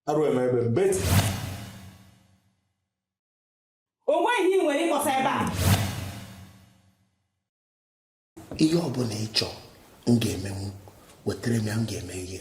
arụ eme ebe mbeti o nweghị ihe ị nwere ịkpọsa ebe a ihe ọbụla ị chọọ m ga-emenwu wetara m ya m ga-eme ihe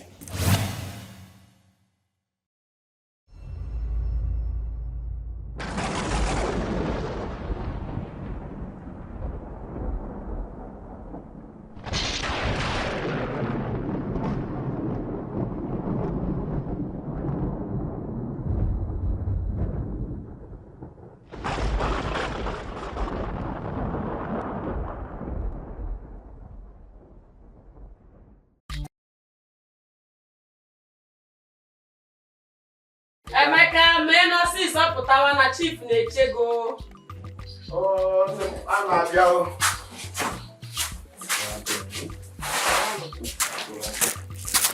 Emeka mee ọsịsọ pụtawa na chief na-eche gị o a na-abịa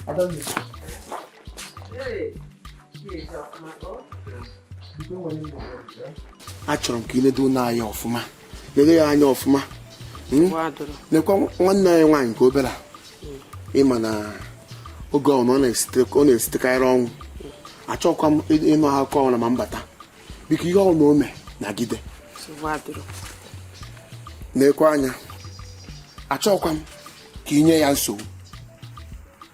Adọghị. achọrọ m ka ị nedo ụnọ anya ọfụma nedo ya anya ọfụma hmm? nekwa nwanne gị nwaanyị nke obere ị ma na oge ọbụna ọ na-esitekarị ọnwụ achọkwa m ịnụ akụkọ ọbụna ma m bata biko ihe ọbụna o me nagide nekwa ya anya achọkwa m ka i nye ya nsogbu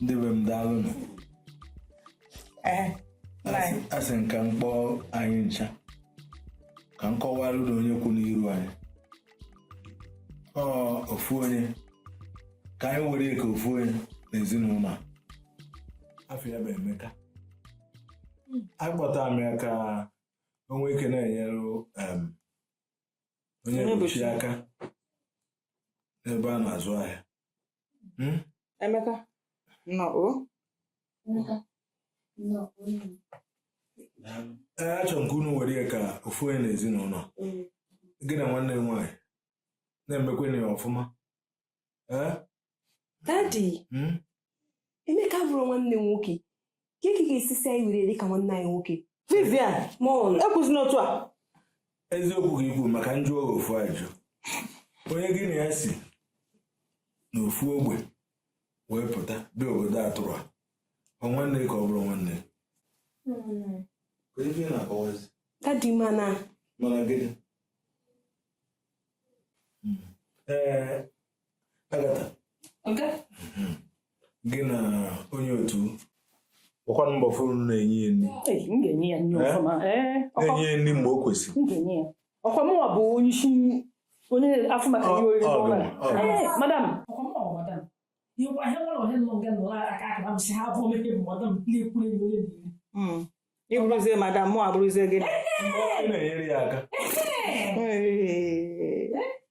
ndị be m daalụnụ Ee, nna anyị. asị m ka m kpọọ anyị ncha ka m kọwara unu na onye kwụ n'iru anyị ọ ofu onye ka anyị were ya ka ofu onye n'ezinụlọ a. afa ya bụ Emeka akpọta m ya ka o nwee ike na-enyere em, onye Onyebuchi aka n'ebe a na-azụ ahịa Hmm? Emeka nnọọ achọrọ m ka unu were ya ka ofu onye n'ezinụlọ gị na nwanne gị nwaanyị na-emekwanụ ya ọfụma dadi hmm? Emeka abụrọ nwanne m nwoke kee ka ị ga-esi sị anyị were ya dịka nwanne anyị nwoke Vivian nwa m ekwuzina otu a eziokwu gị ikwu maka njụ oge ofu ajụ onye gị na ya si n'ofu ogbe wee pụta bịa obodo atụrụ a ọ nwanne ka ọ bụrụ nwanne dadi mana mana gịnị ee gị na onye otu ọkwa mbọ fụrụ na-enye ya nri na-enye ya nri mgbe o kwesịrị ọkwa mụnwa bụ onye isi na-afụ maka ihe oriri gọọmenti madam ị bụrụzie madam mụ abụrụzie gị na-enyere ya aka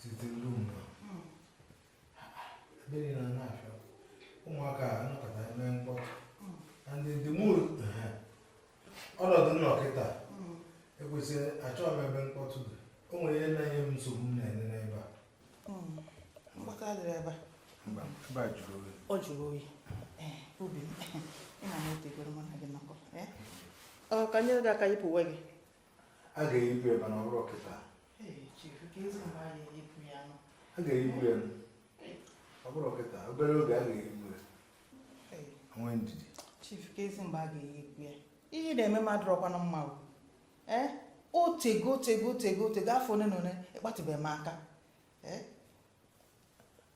site n'ụlọ mmiri na n'afịa ụmụaka anọkọta eme mkpọtụ and the mood ọnọdụ m nọ kịta ekwesịrị achọghị m ebe mkpọtụ dị o nwere ihe na-enye m nsogbu m na-enye n'ebe a mkpọtụ adịrị ebe a ọ jụrụ oyi obi m ị na-etegoro mụ na gị nọkọọ ka m nyere gị aka yipụ uwe gị a ga-eyipụ ya mana ọ bụrọ kịta a ga-eyipụ ya ọ bụrọ kịta obere oge a ga-eyipụ ya nwee ndidi chief kezi mgbe a ga-eyipụ ya ihe ị na-eme m adịrọkwanụ mma ee eh? otego otego otego otego afọ ole na ole ị kpatụbeghị m aka ee eh?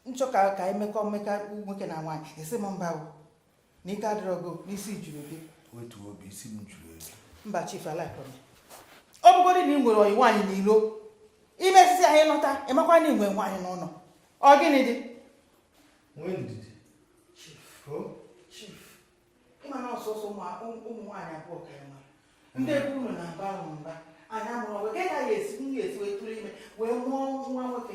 m chọọ ka ka anyị mekọ mmekọ nwoke na nwaanyị ị sị m mba na ike adịrọ gị na isi juru gị otu obi isi m juru eju mba chief alaikọm ọ bụgodị na ị nwere ọyị nwaanyị n'ilo i mesisịa ị nata ị makwa na i nwe nwaanyị n'ụlọ ọ gịnị dị nwee ndidi chief chief ị ma na ọ sọsọ ụmụ nwaanyị abụọ ka anyị nwere ndị be unu na-aba ahụ mba anyị amụrụ ọgụ gaghị esi nwunye esi wee tụrụ ime wee mụọ nwa nwoke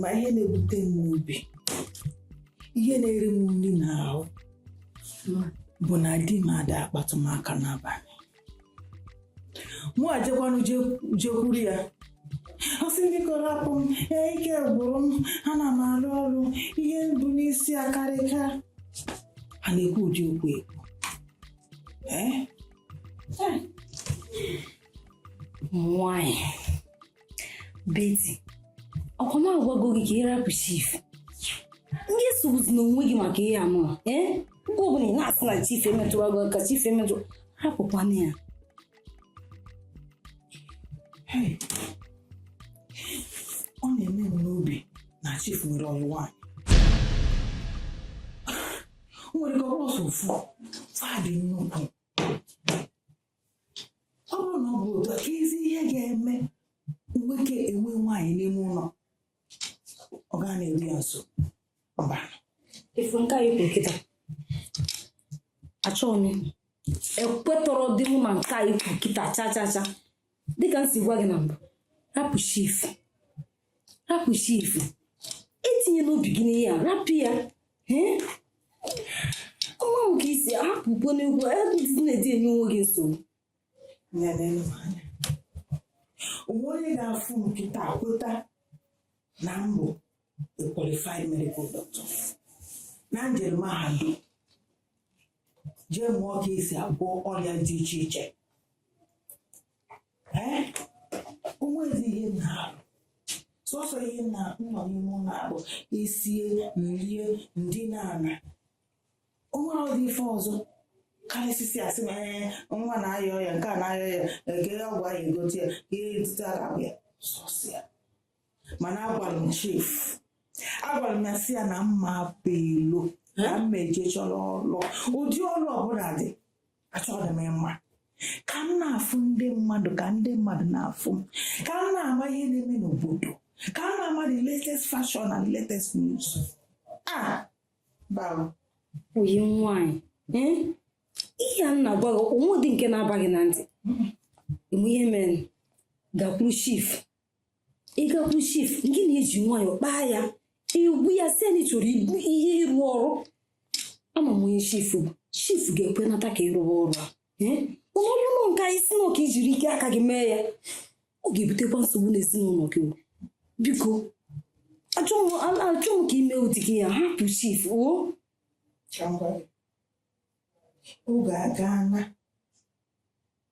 ma ihe na-ewute m obi ihe na-eri m nri n'ahụ bụ na di m ada akpatụ m aka n'abanị mụ ajekwanụ jekwuru ya ọ sị m biko rapụ m ee ike gwụrụ m ana m alụ ọlụ ihe m bu n'isi akarịka a na-ekwu ụdị okwu ekwu ee nwanyị Beti, ọkwa m agwago gị ka ị rapụ chief ngị esogbuzina onwe gị maka ihe anụ a ee mgbe ọbụla ị na-asị na chief emetụrọ gị aka chief emetụrọ rapụkwana ya ọ na-eme m n'obi na chief nwere ọyị nwaanyị o nwere ike ọ bụrọ sọ ofu fa dị nnukwu ọ bụrụ na ọ bụ otu a kezi ihe ga-eme nwoke enwe nwaanyị n'ime ụlọ ọ gaa na-eru ya nso mba ị fụ nke a i kwuru kịta achọghị m ekwetarọdị mụ ma nke a i kwuru kịta cha cha cha dịka m si gwa gị na mbụ rapụ chief rapụ chief etinyena obi gị n'ihe a rapụ ya ee ọma m ka isi hapụ ugo n'egwu adịghị na-edi enye onwe gị nsogbu Ya neenụ m anya. O nwere onye ga-afụ m kịta kweta na m bụ a qualified medical doctor na m jere mahadum jee mụọ ka esi agwọ ọrịa dị iche iche onwezi ihe m na-arụ sọsọ ihe m na-anọ n'ime ụlọ a bụ esie m rie m dina ala onwerọdị ife ọzọ karịsịa asị na ee nwa na-aya ọya nke a na-aya ọya ege ọgwụ ahụ egote ya ihe etite aka ya sọsọ ya mana agwara m chief agwara m ya sị ya na mma apụ ilo na mma eje chọrọ ọlụ ụdị ọlụ ọbụla dị achọghị m ịma ka m na-afụ ndị mmadụ ka ndị mmadụ na-afụ m ka m na-ama ihe na-eme n'obodo ka m na-ama the latest fashion and latest news ah bam ọyị m nwanyị eh? ihe a m na-agwa gị onwedị nke na-aba gị na ntị mgbe ihe mere gakwuru chief ị gakwu chief gị na-eji nwayọ kpaa ya ị gwa ya sị ya na ị chọrọ ibu ihe ịrụ ọrụ ama m onye chief bụ chief ga-ekwenata ka ị rụwa ọrụ a ee mana ọ bụrụ na nke a ị sị na ọ ka i jiri ike aka gị mee ya ọ ga-ebutekwa nsogbu n'ezinụlọ gị o. biko achọ m a- achọ m ka i me ụdị ihe a hapụ chief o Chọngwa. Oge aga na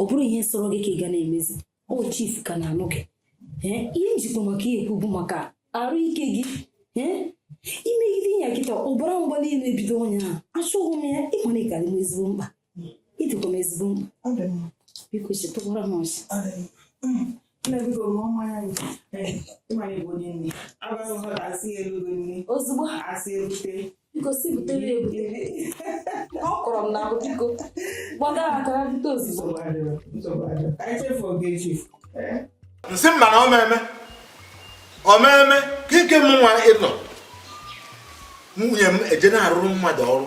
ọ bụrụ ihe sọrọ gị ka ị ga na-emezi o chief ka na-anụ gị ihe m jikwa maka ya ekwu bụ maka arụ ike gị i megide ya kịta ọbara mgbali elu ebido onye ahụ achọghị m ya ị ma na ị ka dị m ezigbo mkpa ị dịkwa m ezigbo mkpa biko chịtakwara m ọchị ozugbo ọ kọrọ m na ahụ biko gbada aka bute ozugbo m sị mba na ọ ma eme ọ ma eme kee ka mụ nwa ịnọ nwunye m eje na-arụrụ mmadụ ọrụ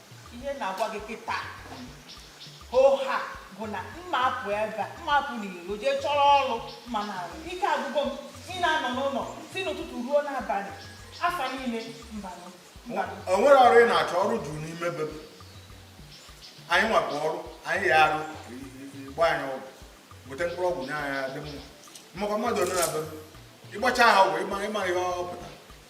ihe m na-agwa gị kịta oha bụ na mma apụ ebe mma apụ n'iro jee chọrọ ọrụ m na-arụ ike agwụgo m ịna-anọ n'ụlọ si n'ụtụtụ ruo n'abalị afọ niile mbanụ mbanụ o nwere ọrụ ị na-achọ ọrụ juru n'ime be m. anyị nwakwa ọrụ anyị ya arụ gbaa anyị ọgwụ gote mkpụrụ ọgwụ nye anyị adị mma ị makwa mmadụ ole nọ be m ị gbacha ha ọgwụ ị ma ị ma ihe ọ pụta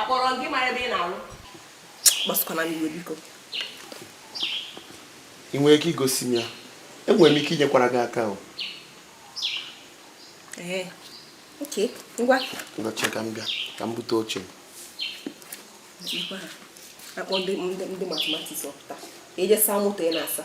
Akpọrọ gị mara ebe ị na-arụ. Gbasakwana m iwe biko. Ị nwere ike igosi m ya? Enwere m ike inyekwara gị aka o. Ee, oke, ngwa. Ngwa chere ka m bịa, ka m bute oche m. Akpọ ndị ndị mathematics ọ pụta. Jee saa moto ị na-asa.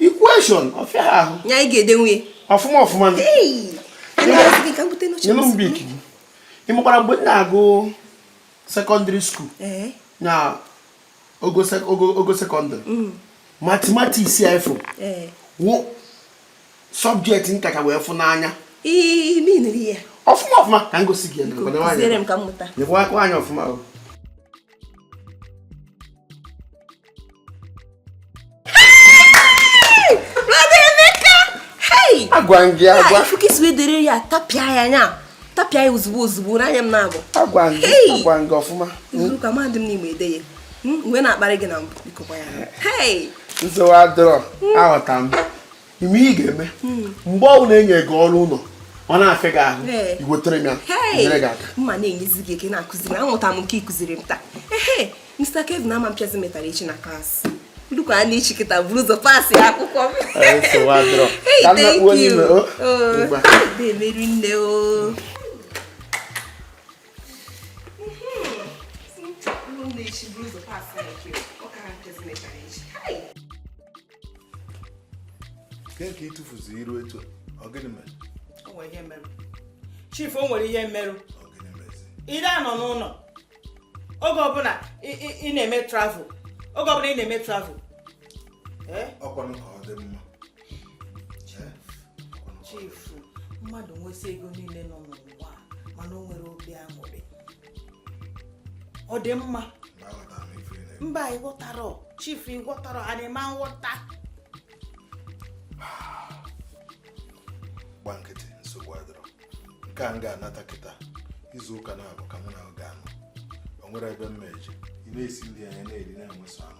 equation ọ fịa ahụ ya ị ga-edenwu ya ọfụma ọfụma nyere m Bic gị ị makwara mgbe m na-agụ secondary school na ogo secondary mm. mathematics a ị fụ wụ subject m kacha wee fụ n'anya ọfụma ọfụma ka m gosi gị ya aka anyị ọfụma agwa m gị agwa ị fụ ka e si wee dere ya tapịa ya anya tapịa ya ozugbo ozugbo n'anya m na-abụ agwa m gị agwa m gị ọfụma izuụka mahadum n'igbo ede ya mgbe m na-akparị gị na mbụ bikokwa ya nsogbu adịrọ aghọta m ihe ị ga-eme hmm. mgbe ọ bụla e nye gị ọrụ ụlọ ọ na-afịa gị ahụ i wetara m ya m nyere gị aka m na-enyezi gị aka na-akụziri aghọta m nke ị kụziri m taa ehe Mr. Kevin ama mpịazi metara echi na class nnukwu a na-echi kịta bụrụ ụzọ passịa akwụkwọ m hey thank you oh, oh, na-emeri nne o oh. Ke ka ị tụfuzi iru etu ọ gịnị mere? O nwere ihe merụ. Chief o nwere ihe merụ. Ọ gịnị mezi? Ị narọ anọ n'ụnọ oge ọbụla ị na-eme travel oge ọbụla ị na-eme travel. Eh? Ọkwanụ ka ọ dị mma. Eh? Chief mmadụ nwesịa ego niile nọ n'ụwa mana o nwerọ obi aṅụrị ọ dị mma mba ị ghọtarọ chief ị ghọtarọ ana m aghọta gba nkịtị nsogbu adịrọ nke a m ga-anata kịta izu ụka naabọ ka mụ na gị ga-anọ o nwerọ ebe m ma eje ị na-esi nri anyị na-eri na-enweso anụ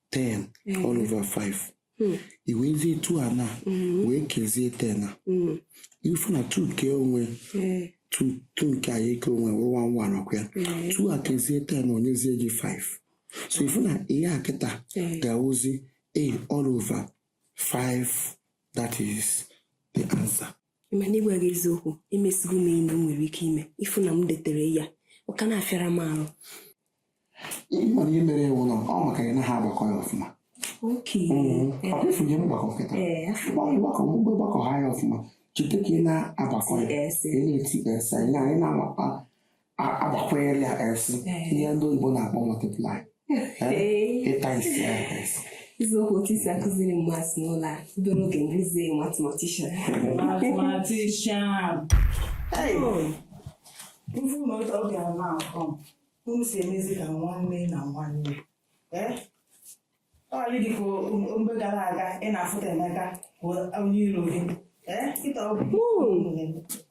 ten mm. all over five mm. i wezie two a na mm. wee kezie ten a ị fụ na two kee onwe two two nke a kee onwe wụrụ one one ọkwa ya two a kezie ten o nyezie gị five so ị fụ na ihe a kịta ga-awụzi a all over five that is the answer. ma n'ịgwa gị eziokwu emesigo m enyi m nwere ike ime ị fụ na m detere ya ọ ka na-afịara m arụ ihe mana ihe mere ewu na ọ maka ya na ha agbakọ ya ọfụma ọbịfụnye mgbakọ kịta mgbakọ mgbe gbakọ ha ya ọfụma cheta ka ị na-agbakọ ya ị na-eti esa ị na-agbakwere ya esi ihe ndị oyibo na-akpọ multiply ịta isi ya esi eziokwu otu esi akụziri m maths n'ụlọ a bụrụ oge nduzi mathematician mathematician unu si emezi ka nwanne na nwanne ee ọ bụrọ dịka mgbe gara aga ị na-afụta Emeka bụ onye iro gị ee kịta obi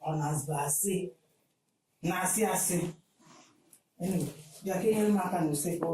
ọ na-azụ asị na-asị asị bịa ka i nyere m aka na usekwu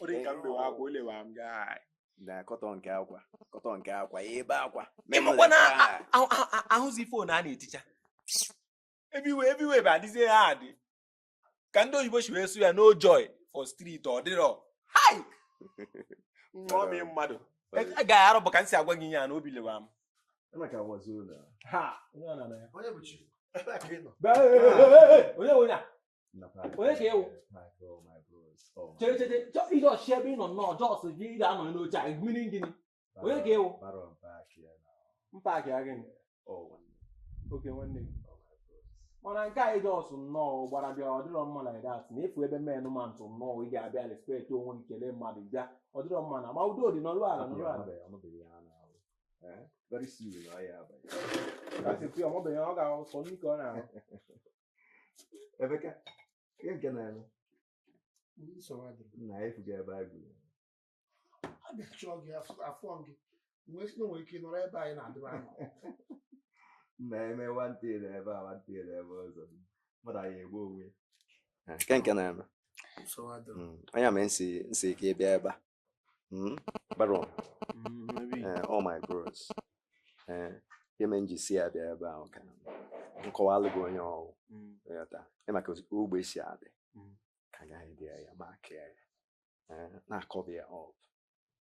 ọ dị ka m bewe akwa o lewa m gaa na kọtọ nke akwa kọtọ nke akwa ebe akwa ị makwa na ahụzi phone a na-eticha everywhere everywhere bụ adịzi hard dịka ndị oyibo si wee sụ ya no joy for street ọ dịrọ hai nwa m mmadụ a gaghị arụ bụ ka m si agwa gị ihe a na obi lewa m Emeka wazuru na. Ha! Onye bụ chi? Onye bụ onye a? onye ka ị wụ chere chere ije ọchị ebe ị nọ nnọọ just gị ị ga-anọ n'oche a mere gịnị onye ka ị wụ mpa gị ya gịnị okay nwanne gị mana nke a ị just nnọọ gbara bịa ọ dịrọ mma na that na ị fụ ebe men mount nnọọ ị ga-abịa respect onwe gị kelee mmadụ bịa ọ dịrọ mma mana udo dị nọrọ ala nọrọ ala very soon ọ ya abalị. That's a few. I'm not being all out. So you can. Emeka, ihe nke na-eme na efuga ebe a gụrụ a bịa chọọ gị a fụ gị wee sị na nwere ike nọrọ ebe anyị na-adịrị anọ na-eme mount na ebe a mount na ebe ọzọ mmadụ anyị egbu onwe nke nke na-eme anya mere m sị ka ị bịa ebe a Hmm? Baron, mm, eh, ọ my bros, eh, ihe mere m ji si ya bịa ebe ahụ ka m kọwalụ gị onye ọ wụ mm. ghọta ị ma ka ogbe si adị mm. ka agaghị bịa ya ma kee ya eh, na-acover ya up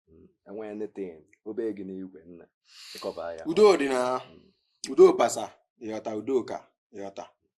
hmm? enweghị anything ọ bụ gị n'igwe na-acover ya udo dị na udo pasa ị ghọta udo ka ị ghọta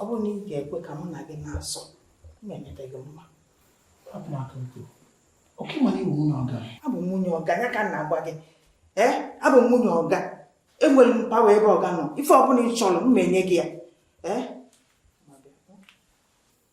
ọ bụrụ na ị ga-ekwe ka mụ na gị na-eso m emeta gị mma abụ m nwunye ọga ya ka m na-agwa gị ee abụ m nwunye ọga enwere m power ebe ọga nọ ife ọbụla ị chọrọ m enye gị ya ee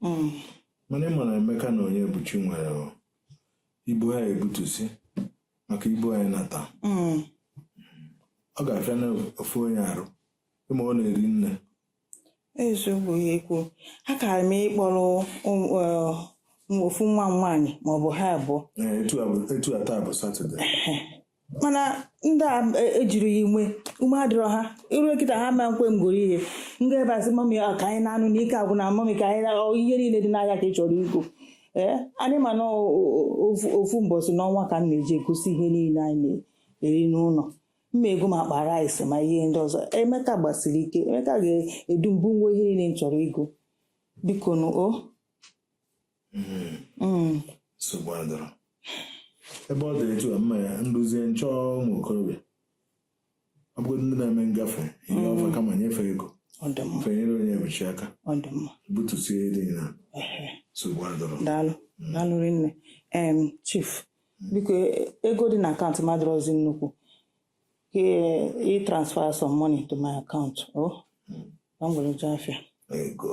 hmm. mana ị ma na Emeka na Onyebuchi nwere ibu ha ya-ebutusi maka ibu anyị nata hmm. ọ ga-afịa n'ofu onye arụ ịma ọ na-eri nne eziokwu ka i kwu akara m ịkpọrọ um, uh, ofu nwa m nwaanyị maọbụ ha abụọ etu a taa bụ satọde mana ndị a ejiri ya inwe ume adịrọ ha i ru kịta ha ama nkwe m goro ihe nga ebe asị mọmi ọ ka anyị naa nụ na ike agwụna mọmi ka anyị naa ọ, ihe niile dị n'ahịa ka ị chọrọ igo ee anyị ma na o- o- ofu- ofu mbọsị n'ọnwa ka m na-eji egosi ihe niile anyị na-eri n'ụlọ m ma-ego ma akpa rice ma ihe ndị ọzọ Emeka gbasiri ike Emeka ga-edu m bunwa ihe niile m chọrọ igo biko nụ o mm. nsogbu adịrọ ebe ọ dị etu a mma ya duzie m chọọ ụmụ okorobịa ọ bụgodị ndị na-eme ngafe ihe mm. ọ fa ka m nyefe ego fa enyere Onyebuchi aka butusie dị na nsogbu adịrọ daalụ mm. daalụ rinne em chief mm. biko ego dị na akaụntụ m adịrọzi nnukwu ka ị transfer some money to my account o oh. ka m were jee afịa ego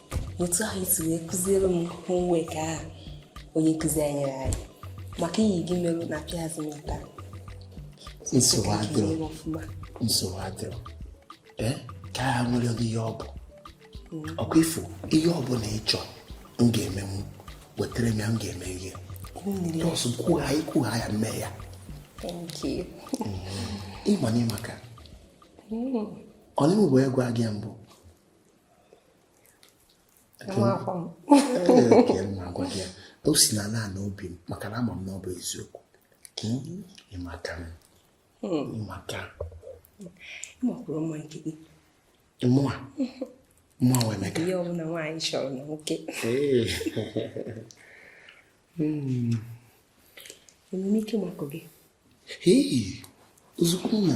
otu ahụ i si wee kụziere m homework ahụ onye nkụzi anyị nyere anyị maka iyi gị merụ na pịazị m aka nsogbu adịrọ nsogbu adịrọ ee ka agha nwere gị ihe ọ bụ mm. okay ife ihe ọ bụla ị chọrọ m ga-eme m wetara m ya m ga-eme ihe just kwuo ya i kwuo ya mee ya ị ma mm. na ị maka mm. ọ na-enwe wee gwa gị mbụ o si n'ala ala obi m maka na ama m na ọ bụ eziokwu hmm? ị maka m hmm. ị maka ị makwuru mma nke gị mụa mụa wee meka ihe ọbụla nwaanyị chọrọ na nwoke hmm. enwe m ike makụ gị ozugbo na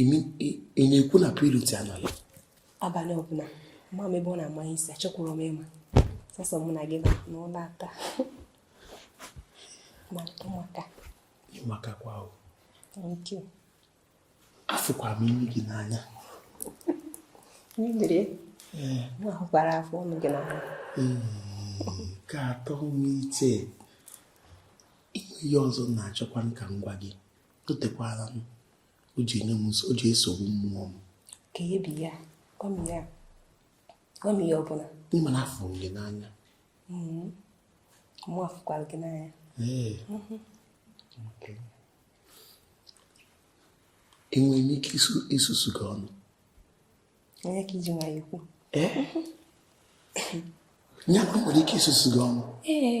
ị na-ekwu na Pretty anọla abalị ọbụla ama m ebe ọ na-amanye isi achọkwuru m ịma sọsọ mụ na gị na ụlọ ata ma ụmụaka ị makakwa ahụ afụkwa m imi gị n'anya mmiri mụ ahụkwara afọ ọnụ gị n'anya ka atọ m iche ihe ọzọ m na-achọkwa ka m gwa gị o tekwaala m o ji enye m o ji esogbu mmụọ m ka ebi ya gwa m ya gwa m ya ọ bụ na ị ma na afụrụ m gị n'anya mm-hmm. mụ afụkwara gị n'anya mm-hmm. enwere m ike isusu gị ọnụ onye ka i ji nwayọ ikwu ya nwere ike isusu gị ọnụ ee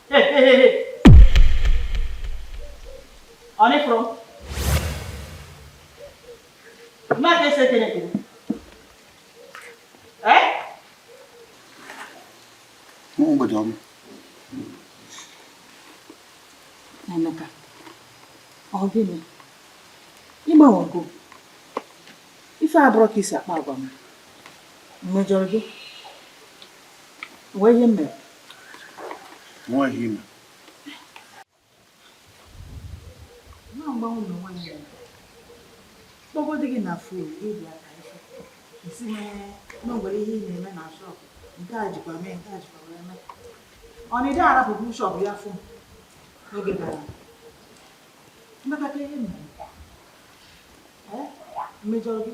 ọ na ị fụrụ mmadụ ese kene kene ee mgbede ọma Emeka ọ gịnị ị gbanwego ife a abụrọ ka i si akpa agwa m mejọrọ gị gwa m ihe m mere nwaanyị ime kpọgodi gị na fon ịbụ aka ife ị sị na e nwere ihe ị na-eme na shop nke a jikwa mee nke a jikwa mee mee ọ na ị dị arapụbu shop ya fụ n'oge gara mmekọta ihe mere m mejọrọ gị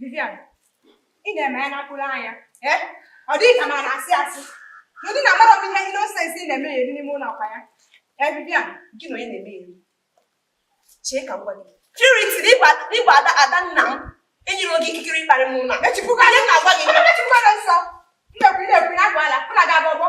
Vivian, ị na-eme ya n'akpụrụ anya eh? ọ dịghị ka ma na-asị asị ndị na-agbara m ihe nonsense ị na-eme ya eri n'ime ụlọ akwa ya eh, Vivian gị na onye na-eme ya eri chee ka m gwa gị purity n'ịgwa ada ada nna m enyere gị ikikere ịkparị m ụlọ echipụga ihe na-agwa gị echipụga nsọ mmekwu na-ekwu na agwa ala mụ na ga-abụ ọgbọ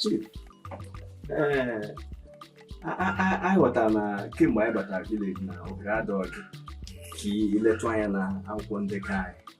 Chief, ee, anyị ghọtara na kemgbe anyị batara village na ohere adọghị ka i letụ anya na akwụkwọ ndekọ anyị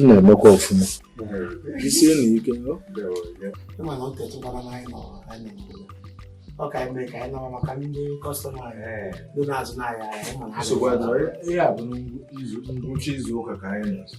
m na-emekwa ọfụma jisienụ ike ọ ka eme ka anyị nọrọ maka ndị kọstọma ndị na-azụ n'ahịa ihe a bụ ngwụcha izu ụka ka anyị na-azụ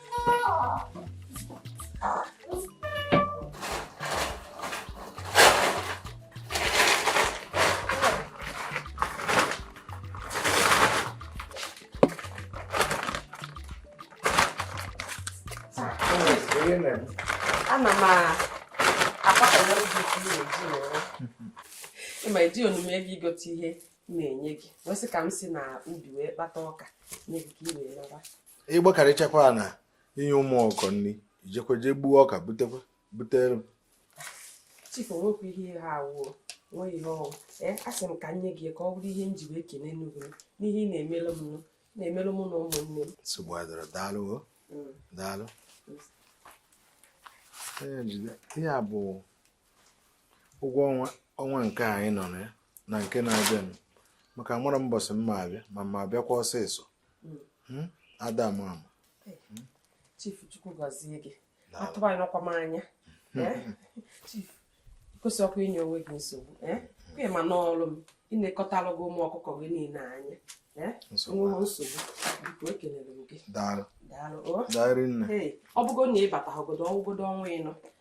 ana m akpakọrọ iji iji ịma eji onume gị igote ihe na-enye gị wee sị ka m si na ubi wee kpata ọka nye gị ka ị wee naba ị gbakarịchakwa na inye ụmụ ọkụkọ nri i jekwa jee gbuo ọka butekwa butere m chifu nwekwa ihe ha awụọ nwe ihe ọ wụ ee asị m ka m nye gị ka ọ bụrụ ihe m ji wee kelee n'ugwu n'ihe ị na-emere m na-emere mụ na ụmụnne m nsogbu adịrọ daalụ o mm. daalụ ihe a bụ ụgwọ ọnwa ọnwa nke anyị nọ na ya na nke na-abịanụ maka m mara mbọsị m ma-abịa ma m ma-abịakwa ọsịsọ hmm? ada ama ama hmm? chief chukwu gọzie gị atụbanyekwa m anya hmm. eh? chief kwesịrọkwa inye onwe gị nsogbu eh? kwe ma n'ọrụ m ịnekọtara gị ụmụ ọkụkọ gị niile anya eh? nsogbu biko ekelere m gị daalụ daalụ oh. ọ bụgo na ịbata ọgọdọ ọgwụgodo ọnwa ịnọ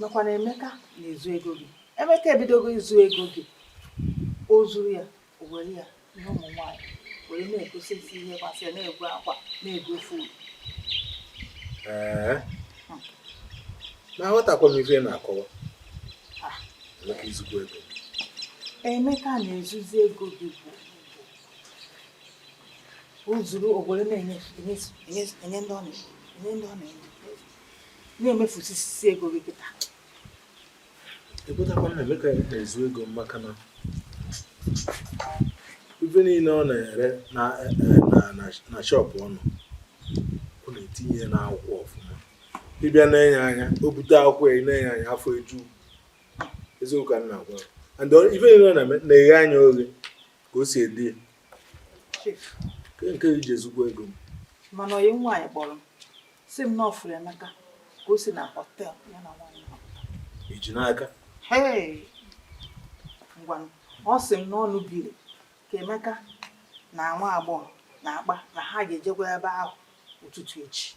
nakwa na Emeka na-ezu ego gị Emeka ebidogo izu ego gị o zuru ya o were ya nye ụmụ nwaanyị were na-egosisi ihe gbasara na-ego akwa na-ego ife uru na aghọtakwa m ife na-akọwa Emeka na-ezuzi ego gị bụ o zuru o bido na-enye ndị ọ na-enye na-emefusisi ego gị kịta ekwetakwarọ m na Emeka na-ezu ego maka na ife niile ọ na-ere na shop ọnụ ọ na-etinye n'akwụkwọ ọfụma ị bịa na-ene ya anya o bute akwụkwọ ya nene ya anya afọ eju eziokwu ka m na-agwa gị. and ọ- ife niile ọ na-eme na-eghe anya oghe ka o si ede ya. Nke- nke o ji ezukwa ego m mana onye nwaanyị kpọrọ m si m na ọ fụrụ emeka ka o si na họtel ya na nwaanyị ahụ. i ji n'aka Hey! ngwanụ ọ sị m na ọ nụbiri ka emeka na nwa agbọghọ na-akpa na ha ga-ejekwa ebe ahụ ụtụtụ echi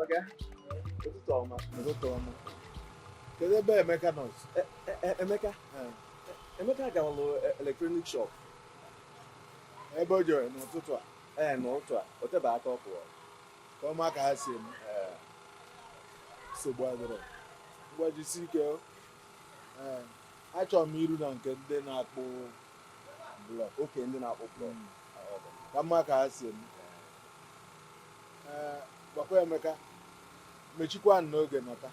Ọga, ụtụtụ ọma. Ụtụtụ ọma. Kedu ebe Emeka nọ? E, e, e, Emeka? Emeka gawalụ electronic shop. Ebe o jere n'ụtụtụ a? Ee, n'ụtụtụ a. O tebe aka ọ pụọ. m ma ka ha si eme nsogbu adịrọ ngwa jisie ike ee achọrọ m iru na nke ndị na-akpụ blọk oke ndị na-akpụ blọk hmm. ka m ma ka ha si eme ee gwakwa Emeka mechikwa n'oge nata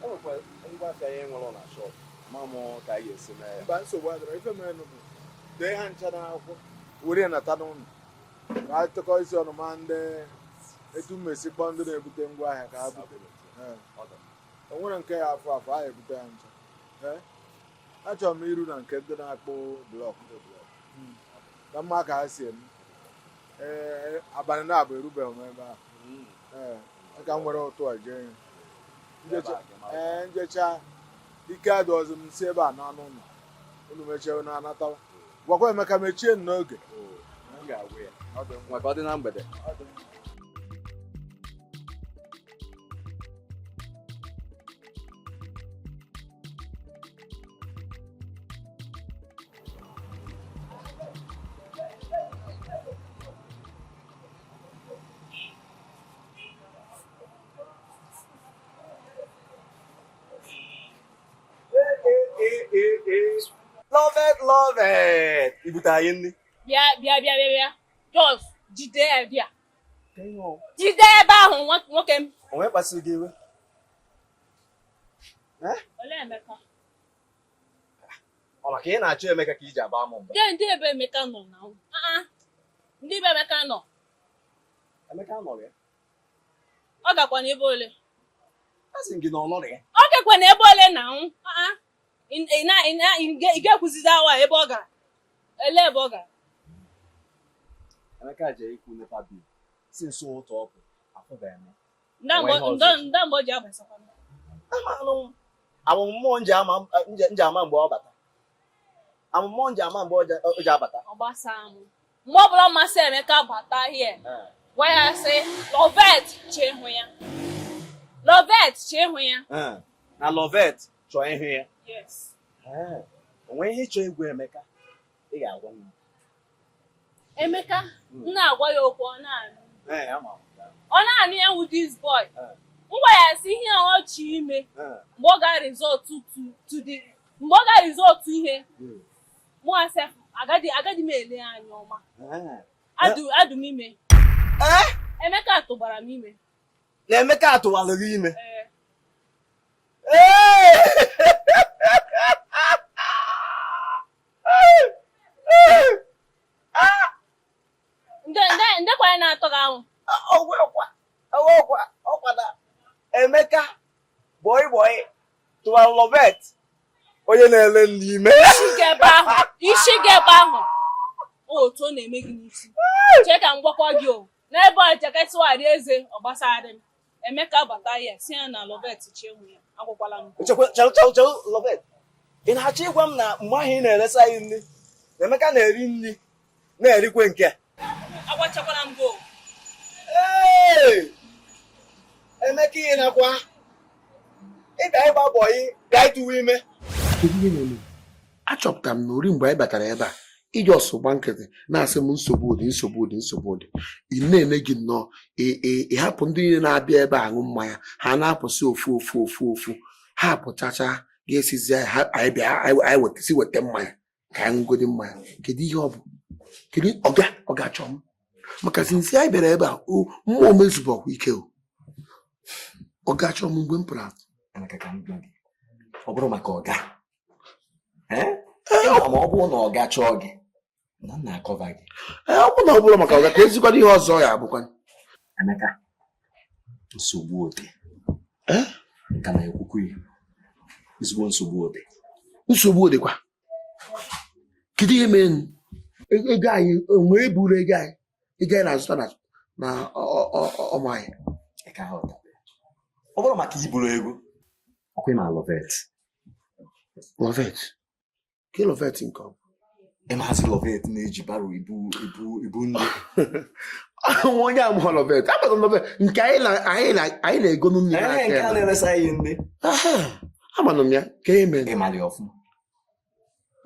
enwekwara ngwa afịa ihe nwere na shọp ma mụ ka anyị esi mee ya mba nsogbu adịrọ ife mere nụ bụ dee ha ncha n'akwụkwọ were nata n'ụlọ ka anyị tụkọ isi ọnụ ma ndị etu m esi kpọọ ndị na-ebute ngwa ahịa ka ha bute Ee. o nwerọ nke ya afọ afọ anyị ebute ya ncha Ee. achọrọ m iru na nke ndị na-akpụ blọk Mm. ka m ma ka ha si eme ee abalị naabọ erubeghị m ebe ahụ ee ka m were ụtụtụ a jee ya. M jechaa- ee m jechaa ike adịghịzi m m si ebe a naa n'ụlọ unu mechie unu anatawa gwakwa Emeka mechie n'oge maka ọ dị na mgbede Loveth, Loveth. Ibute anyị nri. Bịa bịa bịa bịa bịa. Just jide ya bịa. Jide ebe ahụ nwoke m. Onye kpasuru gị iwe. Olee Emeka? Ọ maka ị na-achọ Emeka ka i ji aba m mba. Ndị ebe Emeka nọ na ndị ebe Emeka nọ. Emeka nọ ya. ọ gakwa n'ebe ole asị gị na ọ nọrọ ya ọ gakwa n'ebe ole na nwụ ị ga-ekwuzizi awa ebe ọ gara ele ebe ọ gara Emeka jee ịkwụ NEPA bill si nso ụgwọ ọkụ afụbeghị m nda mgbe o ji abatakwa ọ mụ m je ama mgbe ọ bata ọ mụ m je ama mgbe o ji abata ọ gbasaa mụ mgbe ọbụla masị Emeka bata hie gwa ya sị Loveth chọ ịhụ ya Loveth chọ ịhụ ya na Loveth chọọ ịhụ ya o nwe ihe ị chọ ịgwa Emeka ị ga-agwa m Emeka hmm. m na-agwa ya okwu ọ na-anụ ọ na-anụ ya wụ this boy m gwa ya sị ihe ọ chọ ime mgbe ọ gara ịzụta ihe mụ asị agaghị m ele ya anya ọma Eh. adụ m ime Eh? Emeka tụbara m ime na Emeka atụwalụ gị ime ee Ee! nde nde nde kwa ya na-atọ gị ahụ ọgwụ ọkwa ọgwụ ọkwa ọkwa na Emeka bọị bọị tụwa Loveth onye na-ele nri ime isi gị ebe ahụ otu ọ na-eme gị n'isi chee ka m gwakọ gị o n'ebe a jaketịwarị eze ọ gbasara m Emeka bata ya si ya na Loveth chie nwe ya agwakwala m ị na-achọ ịgwa m na mgbe ahụ ị na-eresa anyị nri Emeka na-eri nri na-erikwa nke agbachakwara m gol Emeka ihe nakwa ị ka ịgba bọyị gaa ịtụwa ime achọpụtara m na eri mgbe anyị batara ebe a ị just gba nkịtị na-asị m nsogbu ọ dị nsogbu ọ dị nsogbu ọ dị ihe na-eme gị nnọọ ị hapụ ndị niile na-abịa ebe a aṅụ mmanya ha na-apụsị ofu ofu ofu ofu ha pụchacha ga-esizi anyị bịa anyị wetasi weta mmanya ka anyị ṅụgodi mmanya kedu ihe ọ bụ kedu ọga ọ ga-achọ m maka since anyị bịara ebe a o mmụọ m ezuberọkwa ike o ọ ga-achọ m mgbe m pụrụ apụ Emeka ka m gwa gị, ọ bụrụ maka ọga ee Ee, ọ ma ọ bụrụ na ọga chọọ gị na m na-cover gị ee, ọ bụrụ na ọ bụrọ maka ọga keezikwanụ ihe ọzọ ya abụkwa Emeka nsogbu ọ dị ka na-ekwukwu ya ezigbo nsogbu ọ dị nsogbu ọ dịkwa kedu ihe mere e, ego anyị onwe eburu ego anyị ego anyị na-azụta na ọmụ anyị ọ bụrọ maka iburu ego ọkwa ị ma Loveth Loveth Kee Loveth nke ọ bụ? Ị maazị Loveth na-eji baro ebu nri. Nwa onye amụọ Loveth, agbata Loveth nke anyị na anyị na anyị na-egonu nri n'aka ya. Nke a na-eresa anyị nri. Amanụ m ya, kee ihe mere. Ị mara ya ọfụma.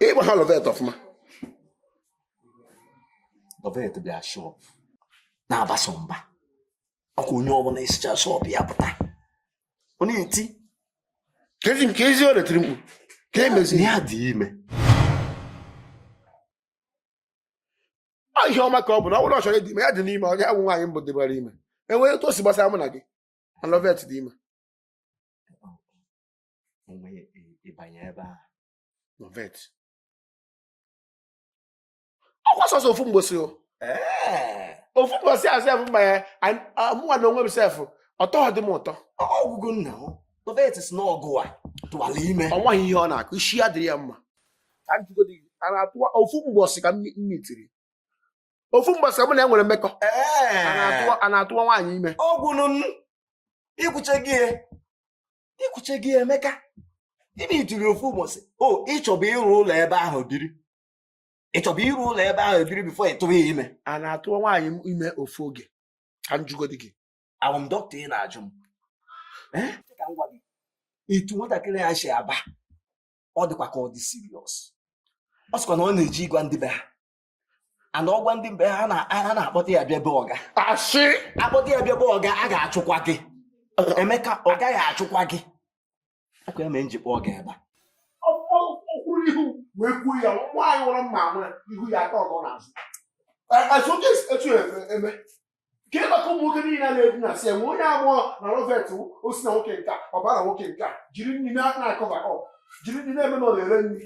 Ị mara Loveth ọfụma. Loveth bịa shọp na-abaso mba. ọkwa onye ọbụla esicha shọpụ ya pụta ọ na-eti kezi nke ezi ọ retiri mkpu ka emezi ya dị ime ihe ọma ka ọ bụ na ọ bụrụ ọ chọrọ dị ime ya dịnụ ime ọ ya wụ nwaanyị mbụ dịbara ime o nwere otu o si gbasa mụ na gị Loveth dị ime ịbanye ebe a Loveth ọ kwa sọsọ ofu mbọsị o ofu mbọsị a sef mgbe ya mụnwa na onwe m sef ọ tọdị m ụtọ ọgwụgwụ nna m papa ya tesi n'ọgụ atụwala ime o nweghị ihe ọ na-akọ isi ya dịrị ya mma ka m jụgodi gị a na-atụwa ofu mbọsị ka m mitiri ofu mbọsị ka mụ na ya nwere mmekọ a na-atụwa a na-atụwa nwaanyị ime ọgwụnụ m ikwuche gị ya ikwuche gị ya emeka gịnị mere ofu ụbọchị o ị chọbu ịrụ ụlọ ebe ahụ biri ị chọbu ịrụ ụlọ ebe ahụ biri before ị tụwa ya ime a na-atụ nwaanyị ime ofu oge ka m jụgodi gị awụ m dọkịta ị na-ajụ m Eh? Sị ka m gwa gị etu nwatakịrị a si aba ọ dịkwa ka ọ dị serious ọ sịkwa na ọ na-eje ịgwa ndị be ha and ọ gwa ndị be ha na- ha na-akpọta ya bịa be ọga a sị a kpọta ya bịa be ọga a ga-achụkwa gị emeka ọga ga-achụkwa gị ọ kwa ya mere m ji kpọọ gị ebe a ọ kwụrụ ihu wee kwuo ya nwaanyị mara mma ama ihu ya atọ nọ n'azụ azụ oge etu eme ka ị gbakọọ ụmụ nwoke niile a na-ebu na si enwe onye amụọ na rovet o si na nwoke nke a ọbara nwoke nke a jiri nri na-akọba ọ jiri nri na-eme na ọ na-ere nri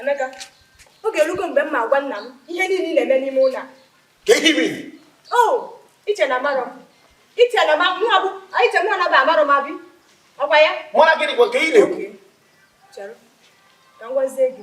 Emeka, oge erugo mgbe m ma-agwa nna m ihe niile na-eme n'ime ụlọ a. Kee ihe mere? O, i che na amarọ m. I che na mụnwa bụ, i chewe na bụ amarọ m abi. Ọkwa ya? Mara gịnị kwa ka ị na-ekwu? Chere, ka m gwazie gị.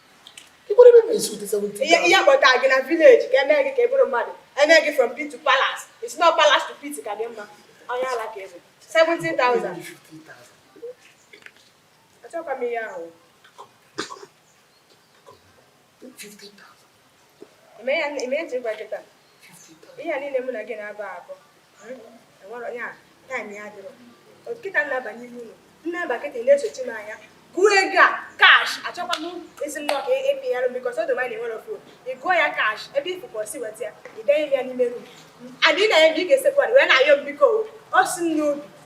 ihe a kpọta gị na village ka e mee gị ka ị bụrụ mmadụ e mee gị from pit to palace it's not palace to pit ka dị mma onye ala kee ebe 17,000 achọkwa m ihe ahụ eme ya eme ya nchekwa kịta ihe a niile mụ na gị na-abụ abụ enwere onye a time ya dịrọ kịta na-aba n'ime ụlọ na-aba kịta na-esochi m anya gụọ ego a cash achọkwa m ezi nnọọ ka epinyere m because odo mmadụ enwere phone ị gụọ ya cash ebe ọ bụ i si weta ya ị denye ya n'ime room adị na ya mgbe ị ga-esekwa wee na-ayọ m biko o si m n'obi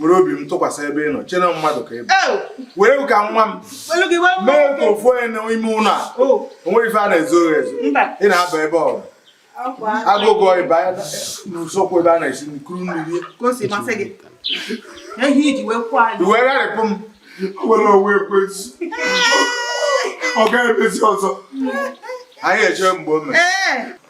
were obi m tụkwasị ebe ị nọ chee na mmadụ ka ị bụ were ka nwa m mee ka ofu onye n'ime ụlọ a o nwe ife a na-ezo ezo ị na-aba ebe ọrụ agụgụ ịba n'usekwu ebe a na-esi nri kuru mmiri i wee gharịpụ m were onwe ekwezi ọ gaghị emezi ọzọ anyị eje mgbe o mere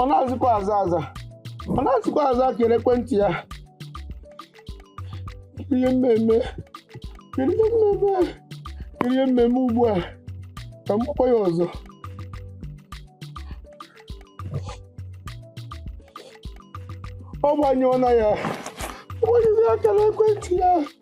ọ na-azịkwa aza aza ọ na-azịkwa aza akara ekwentị ya ihe m me-eme kedu ihe m me-eme a? kedu ihe m me-eme ugbu a ka m kpọkwa ya ọzọ ọ gbanyụọna ya ọ gbanyụrụ akara ekwentị ya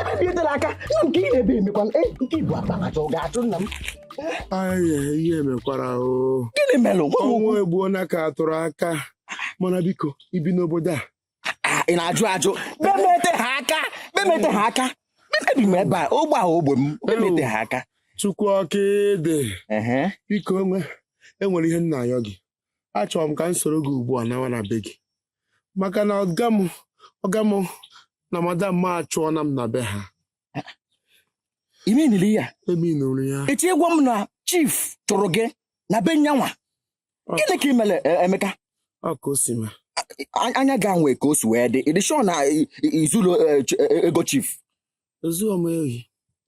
ebe bi edela aka nna m ka ị na-ebe emekwana e nke i bu akpa achọ ga-achụ nna m Aye, ihe mekwara o gịnị melụ gwa m ọnwa okwu egbuona ka atụrụ aka mana biko i bi n'obodo a Ah, ị na-ajụ ajụ be m eteha aka be m eteha aka ebi m ebe a ogbe a ogbe m be m eteha aka chukwu ọka ịdị Ehe. biko o nwe e nwere ihe m na-ayọ gị achọrọ m ka m soro gị ugbu a nawa na be gị maka na ọga m ọga m na madam m achụọna m na be ha imeniri ya eminụrụ ya echi ị gwa m na chief chụrụ gị na be ya nwa gịnị ka ị mere e, Emeka ọ ka o si ma A- anya ga nwee ka o si wee dị ị dị sure na i- i- i zuru e, ch- e, ego chief ezughị m ohi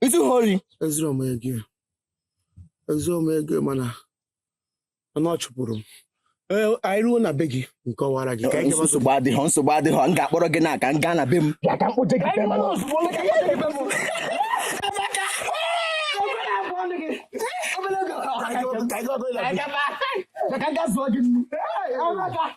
i zuha ori ezughị m ego ezughị m ego mana mana ọ chụpụrụ m Ee, anyị ruo na be gị m kọwara gị ka anyị gawa nsogbu adịghọ nsogbu adịghọ m ga-akpọrọ gị naa ka m gaa na be m bịa ka m kpoje gị be m Ka anyị gawa- ka anyị gawa- ka anyị gawa-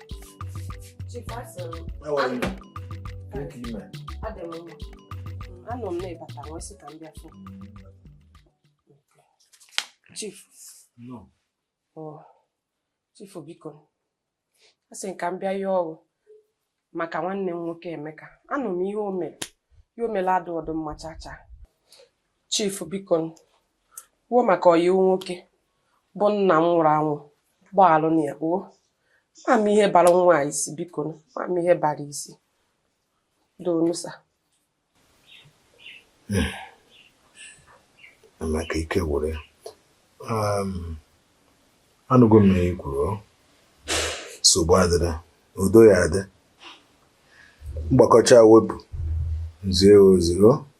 How are you? Thank you, man. Anụ m na ị bata wee sị ka m bịa fụ. Chief. Nnọọ. Chief biko. A sị ka m bịa yọọ ghụ maka nwanne m nwoke Emeka. Anụ m ihe o mere. Ihe o mere adụhọdụ mma chacha. Chief bikonu o maka ọyị ghụ nwoke bụ nna m nwụrụ anwụ gbaghalụnụ ya kpuo ma m ihe bara nwa a isi biko ma m ihe bara isi doonu sir hmm. maka ike gwụrụ ya um, anụgo m ihe i kwuru nsogbu adịrọ udo ya-adị m gbakọchaa wepụ m zie ozi o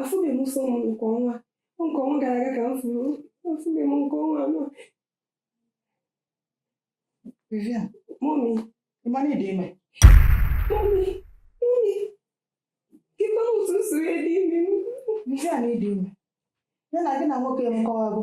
afụbeghị m nsọ m nke ọnwa nke ọnwa gara aga ka m fụrụ afụbeghị m nke ọnwa a Vivian, mọmi ị ma na ị dị ime mọmi mọmi ịkpa otu m siri dị ime m Vivian ị dị ime ya na gị na nwoke emekọwago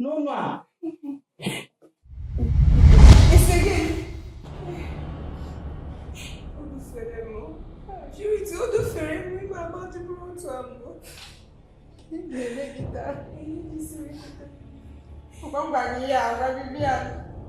n'ụlọ a isi gị o dufere m juriti o dufere m ime agba dịbụrụ otu a mbụ na-eme gị taa ngwa ngwa gị ya agwa gị bịa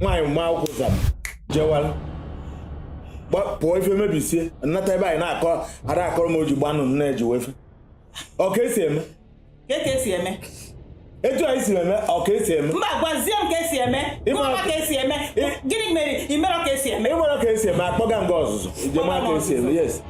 nwaanyị mma akwụkwọ zam jewara pụọ ife mebisie nnata ebe anyị na-akọ ada akọrọ m oji gbanụ nne eji wefe ọka esi eme ka ka esi eme etu anyị si eme ọ ka esi eme mba gwazie m ka esi eme Ịma- gwa m ka esi eme gịnị mere ị mere ka esi eme ịmara ka esi eme a kpọga m gaa ọzụzụ ije mara ka esi eme yes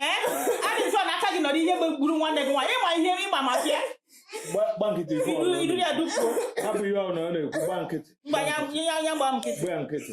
ee adị mfe na aka gị nọrọ ihe gbe- gburu nwanne gị nwaanyị ịma ihe ịgba maka ya Gba- gba nkịtị ife ọrụ iru ya dupuo hapụ ihe ọrụ na ọ na-ekwu gba nkịtị mgbe anya ihe anya gba nkịtị gba ya nkịtị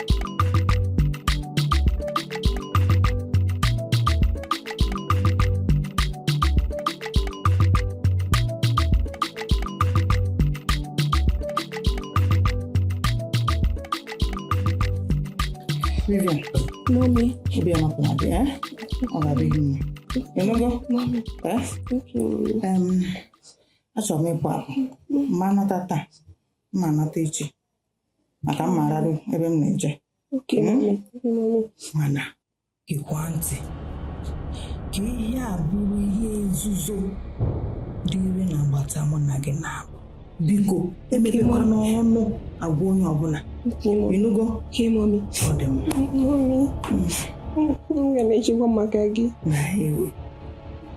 Vivian. Mommy. Obi ọma kwụna bịa. Ọ ga-adịrị gị mma. Ị nụgo? Mommy. Achọrọ m ịpụ apụ. M ma-anata taa. M ma-anata echi. maka m ga-ararụ ebe m na-eje Okay, Hmm? mommy. Okay, mommy. mana gekwa ntị ka ihe a bụrụ ihe nzuzo dịrị n'agbata mụ na gị na-abụ biko emepekwana ọnụ agwa onye ọbụla Okay, mommy. ị nụgo Okay, mommy. ọ dị mma Mommy. M ga na-echekwa maka gị. na ewe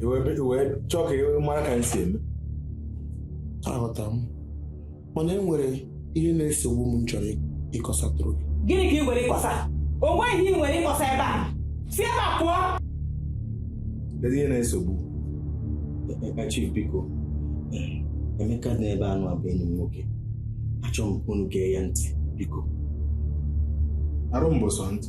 I wee be- i wee chọọ ka ị mara ka m si eme aghọtara m mana e nwere ihe na-esogbu m m chọrọ ịkọsatụrụ gị gịnị ka ị nwere ịkọsa o nweghị ihe ị nwere ịkọsa ebe a si ebe a pụọ kedu ihe na-esogbu Emeka chief biko Emeka dị n'ebe a nwa bụ enyi m nwoke achọrọ m ka unu gee ya ntị biko arụ mbụsọ ntị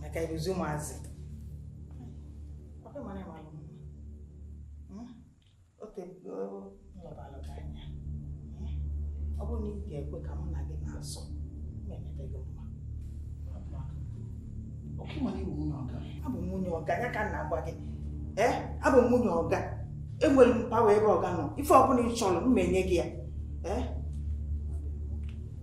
maka ị bụzi ụmụazị ọkwa mara ị malụ mma o tee m lebalụ gị anya ọ bụrụ na ị ga-ekwe ka mụ na gị na-eso na-emete gị mma abụ m nwunye ọga ya ka m na-agwa gị ee abụ m nwunye ọga enwere m power ebe ọga nọ ife ọbụla ị chọrọ m menye gị ya ee